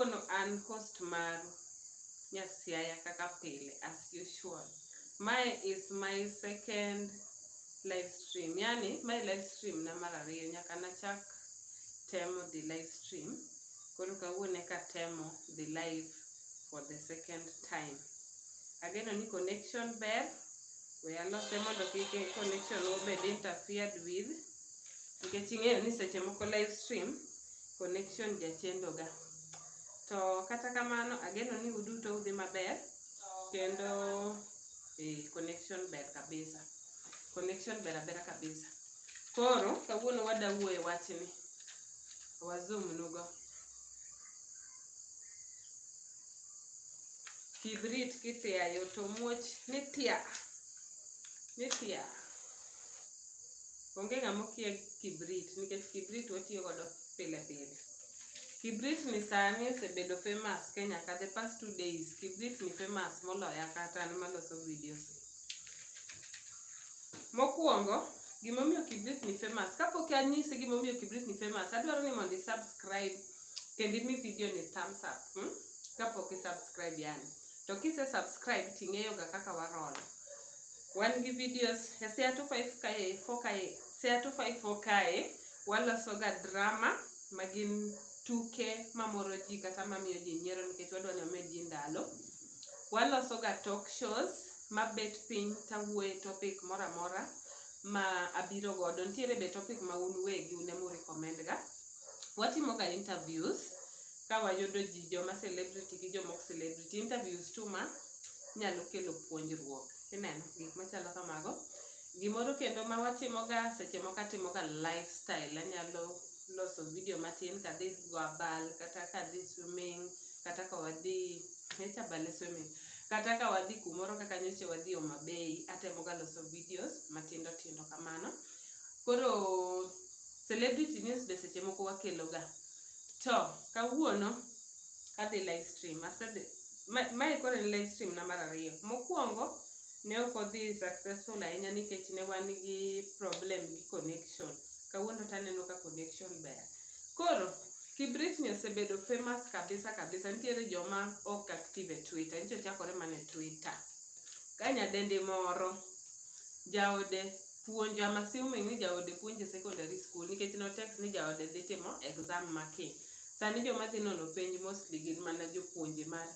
Kawuono an host maru Nyasiaya kaka pile as usual. Mae is my second live stream, yani mae live stream na mar ariyo nyaka nachak temo dhi live stream. Koro kawuono eka atemo dhi live for the second time. Ageno ni connection ber, we alose mondo kik connection obed interfered with. Nikech ing'eyo ni seche moko live stream connection jachendo ga. To kata kamano ageno ni uduto udhi maber kendo eh, connection ber kabisa. Connection ber abera kabisa. Koro kawuono wada wuoye wachni. Wazoom nugo. Kibrit kithiayo to muoch ni tia. Ni tia. Onge ng'ama okia kibrit nikech kibrit watiyo godo pile pile. Kibrit ni sani osebedo famous Kenya ka the past two days. Kibrit ni famous moloya kata an maloso videos. Mokuongo, gimomiyo kibrit ni famous. Kapok anyisi gimomiyo kibrit ni famous, adwaro ni mondo i-subscribe kendo imi video ni thumbs up. Hmm? Kapok i-subscribe yani. To kise subscribe to ing'eyo ga kaka wa roll. Wan gi videos e Sea 254 kae, 4 kae, Sea 254 kae waloso ga drama ma gin tuke mamoro ji kata mamiyo ji nyiero nikech wadwa ni wamed ji ndalo. Waloso ga talk shows mabet piny tawuoye topic moro amora ma abiro godo. Nitiere be topic ma un uwegi un ema u recommend ga. Watimo ga interviews ka wayudo ji joma celebrity gi joma ok celebrity, interviews too much nyalo kelo puonjruok. Ineno gik machalo kamago. Gimoro kendo ma watimoga seche moko atimoga lifestyle, anyalo loso video matin kadhi go abal kata kadhi swimming kata ka wadhi nyocha abal e swimming kata ka wadhi kumoro kaka nyocha wadhi Homa Bay atemoga loso videos matindo tindo kamano. Koro celebrity news be seche moko wakeloga To kawuono kadhi live stream, asedhi mae koro en live stream na mar ariyo. Mokuongo ne ok odhi successful ahinya nikech ne wan gi problem gi connection. Kawuono to aneno ka connection ber. Koro Kibritni osebedo famous kabisa kabisa, nitiere joma ok active e Twitter, nyicha ochakore mana e Twitter. Ka nyadendi moro jaode puonjo I'm assuming ni jaode puonje e secondary school nikech no text ni jaode dhi timo exam ma ki. Sani joma dhi nono penj mostly gin mana jopuonje mar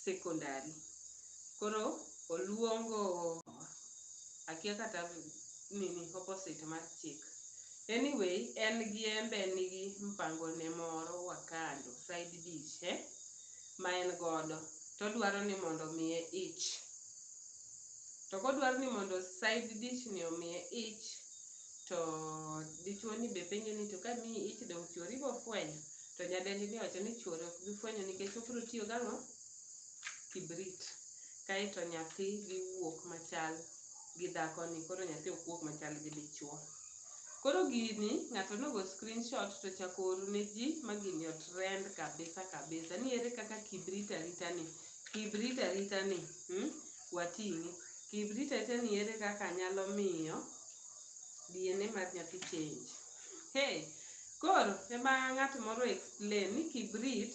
secondary. Koro oluongo akia kata nini opposite mar chik. Anyway, en gi embe nigi mpango ne moro wa kando side dish eh, ma en godo todwaro ni mondo omiye ich. To kodwaro ni mondo side dish ni omiye ich to dichuo ni be penje ni to ka miyi ich donge chuori bo fwenyo? To nyadendi ni owacho ni chuore ok bi fwenyo nikech obiro tiyo gang'o? Kibrit. Kaeto nyathi dhi wuok machal gi dhakoni, koro nyathi ok wuog machal gi dichuo. Koro gini ng'ato nogo screenshot to ochako oro ne ji ma gini otrend kabisa kabisa ni ere kaka kibrit aritani Kik irit arita ni wating'i. Kik irit arita ni ere kaka anyalo miyo DNA mar nyathi change. Hey, koro ema ng'at moro explain ni kibrit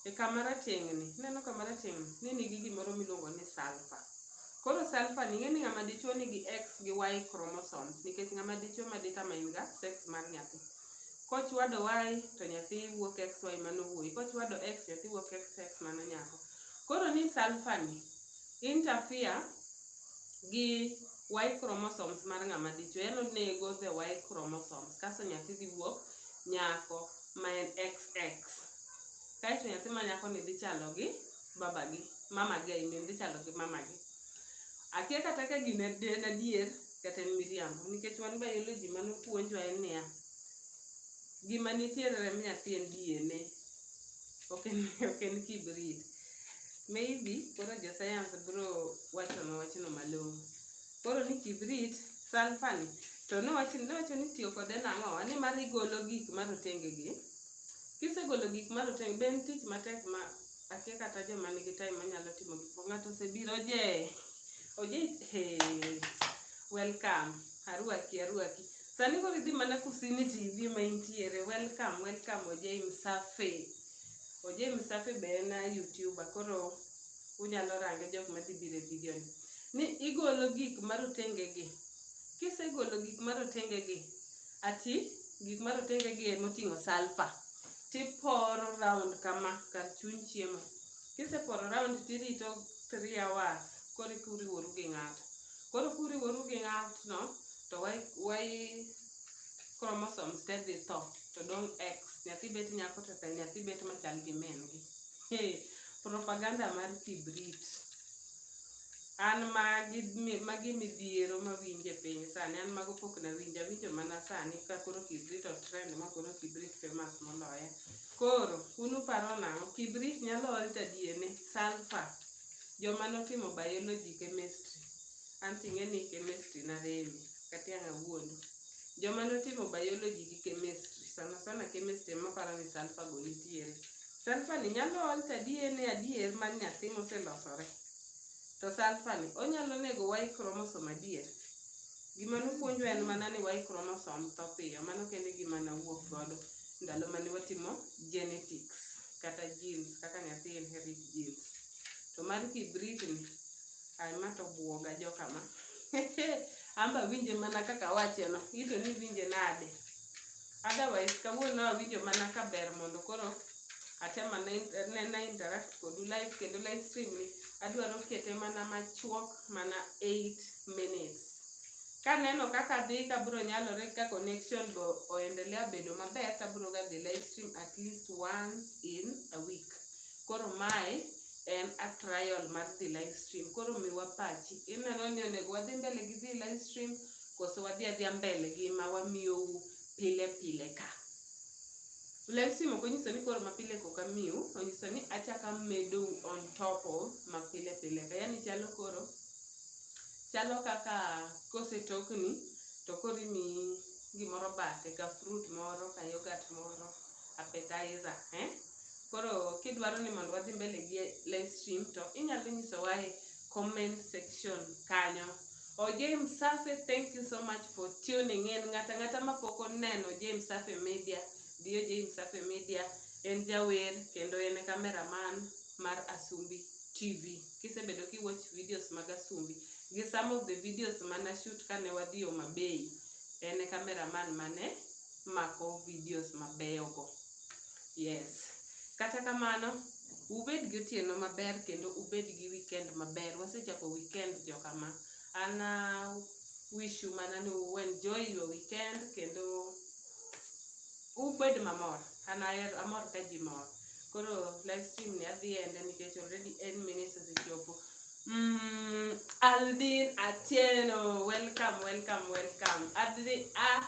e kama rateng' ni, ineno kama rateng' ni, ni nigi gimoro miluongo ni sulfur. Koro sulfur ni ing'e ni ng'ama dichuo nigi X gi Y chromosomes nikech ng'ama dichuo ma ditama in ga sex mar nyathi. Kochwado y to nyathi wuok xy mano wuoyi, kochwado x nyathi wuok xx mano nyako. Koro ni sulfur ni interfere gi y chromosomes mar ng'ama dichwo, yaani onego the y chromosomes kasto nyathi dhi wuok nyako ma en xx. Kaeto nyathi ma nyakoni dhi chalo gi babagi, mamagi I mean dhi chalo gi mamagi. Akia kata ka gini en adier. kata en miriambo nikech wan biology mane opuonjwa en niya, gima nitiere e remb nyathi en DNA, ok en, ok en kibrit. Maybe koro jo science biro wachonwa wachno malong'o. Koro ni kibrit, sulfur ni, to nowacho nowacho ni itiyo kode nang'o? Ni mar igolo gik marotenge gi, kisegolo gik marotenge be en tich matek ma Akia kata joma nigi time manyalo timo gik moko. Ng'ato osebiro oje. Oje he. Welcome. Aruaki aruaki. Sani koro idhi mana kusini TV ma intiere. Welcome welcome oje msafi. Oje msafi be en a YouTuber koro unyalo range jok madhi biro e video ni. Ni igolo gik marotenge gi. Kisegolo gik marotenge gi Ati, gik ma rotenge gi e moting'o sulphur, tiporo round kama kar chuny chiemo. Kiseporo round tirito three hours koro eka uriworu gi ng'ato. Koro kuriworu gi ng'atno to y chromosomes te dhi tho to dong' X. Nyathi bet nyako to nyathi bet machal gi min gi. Propaganda mar kibrit. An magi mi magi midhiero mawinjo e piny sani an mago pok nawinjo awinjo mana sani ka koro kibrit otrend ma koro kibrit famous moloya. Koro un uparo nang'o kibrit nyalo ol to adiene sulphur joma notimo biology chemistry an ting'e ni chemistry naremi kata ang' awuondi. Joma notimo biology gi chemistry sana sana chemistry ema paro ni sulphur go nitiere. Sulphur ni nyalo ol to adiene adier mar nyathi moselosore. To sulfur ni onyalo nego Y chromosome adier? Gima nopuonjwa en mana ni Y chromosome tho piyo, mano kende e gima nawuok godo ndalo mane watimo genetics kata genes kaka nyathi inherit genes. To mar kibrit ni, ai ma to obwoga joka ma. An be awinje mana kaka awache no, in to niwinje nade? Otherwise kawuono awinjo mana ka ber mondo koro atem ane nena interact kodu live kendo live stream ni adwaro kete mana machuok mana 8 minutes. Kaneno kaka dhi kabro nyalore ka connection bo oendelea bedo maber tabro ga dhi live stream at least once in a week. Koro mae en a trial mar dhi live stream. Koro miwa pachi. Ineno ni onego wadhi mbele gi dhi live stream koso wadhi adhiya mbele gi ma wamiyou pile pile ka? Live stream ok onyiso ni koro mapile kok amiu, onyiso ni achak amedou on top of mapile pile ka. Yani chalo koro, chalo kaka kosetokni to koro imiyi gimoro bathe ka fruit moro ka yogurt moro appetizer eh? Koro kidwaro ni mondo wadhi mbele gi live stream to inyalo nyisowa e comment section kanyo Oje Msafi, thank you so much for tuning in. Ng'ata ng'ata ma pok oneno Oje Msafi Media, dhi Oje Msafi Media. En jawer kendo en e cameraman mar Asumbi TV. Kisebedo ki watch videos mag Asumbi, gi some of the videos mana shoot kane wadhi Homa Bay, en e cameraman mane mako videos mabeyo go. Yes. Kata kamano, ubed gi otieno maber kendo ubed gi weekend maber. Wasechako weekend joka ma. An a wish you mana ni u enjoy your weekend kendo ubed mamor. An aher amor ka ji mor. Koro live stream ni adhi ende nikech already 8 minutes osechopo. Mm, Aldin Atieno, welcome, welcome, welcome. Adri, ah,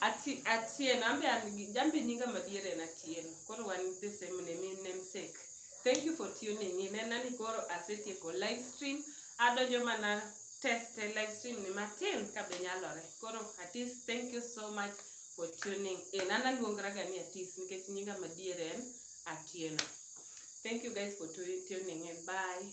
Ati, Atieno, ambe an gi, jambe nyinga madier en Atieno. Koro wan the same name, in namesake. Thank you for tuning in. Nena ni koro asetieko live stream, adonjo mana teste live stream ni matin kabe nyalore. Koro Atis, thank you so much for tuning in. An aluongra ga ni Atis nikech nyinga madier en Atieno. Thank you guys for tu- tuning in. Bye.